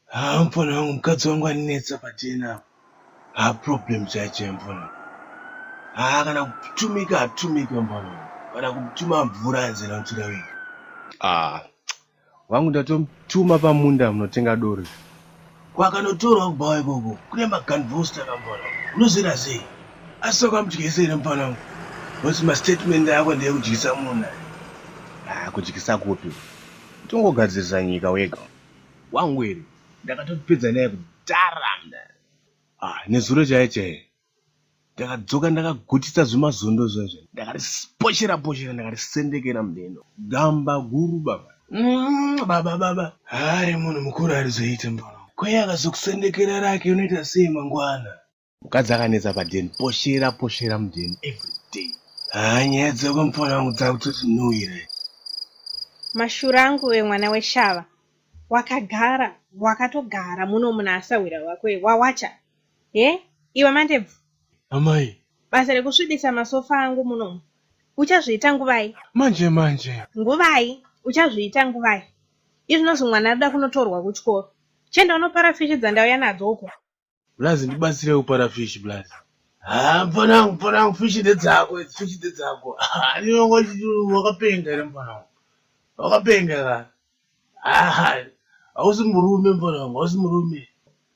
Hampona wangu mukadzi wangu anetsa patena apo. Ha problem chaicho mbona. Ha kana kutumika atumika mbona. Kana kutuma mvura anzira mvura wega. Ah, Wangu ndatomutuma pamunda munotenga doro. Kwakanotorwa kubhawa ikoko kune maganvosta kamfana. Unozvira sei? Asi wakamudyisa here mfana wangu? Nokuti mastatement ako ndeyekudyisa munhu. Ah, kudyisa kupi? Tongogadzirisa nyika wega. Wangu here? Ndakatopedza naye kudhara mna. Ah, nezuro chaye chaye. ndakadzoka ndakagutisa zvimazondo zvezve ndakariposhera poshera ndakarisendekera mudeno gamba guru baba mm, baba baba hari munhu mukuru arizoite mbono kweye akazokusendekera rake unoita sei mangwana mukadzi akanetsa padeni poshera poshera mudeni everyday haa nyaya dzako mupfana wangu dzakutoti no here mashura angu wemwana weshava wakagara wakatogara muno munhu asahwira wako wawacha he iwe mandebvu amai basa rekusvibisa masofa angu munomu uchazviita nguvai manje manje nguvai uchazviita nguvai izvinozi mwana arida kunotorwa kuchikoro chenda unopara fishi dzandauya nadzo uko blazi ndibatsire kupara fishi blazi haa mfana wangu mfana wangu fishi ndedzako idzi fishi ndedzako andinongochiti wakapenga here mfana wangu wakapenga ka Aha, hausi murume mfana wangu, hausi murume.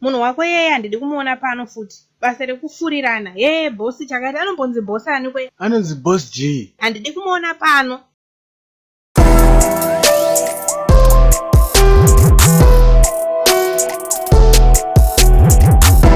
Munhu wako yeye handidi kumuona pano futi. Basa rekufurirana. Yeye boss chakati anombonzi boss ani kwe? Anonzi boss G. Handidi kumuona pano.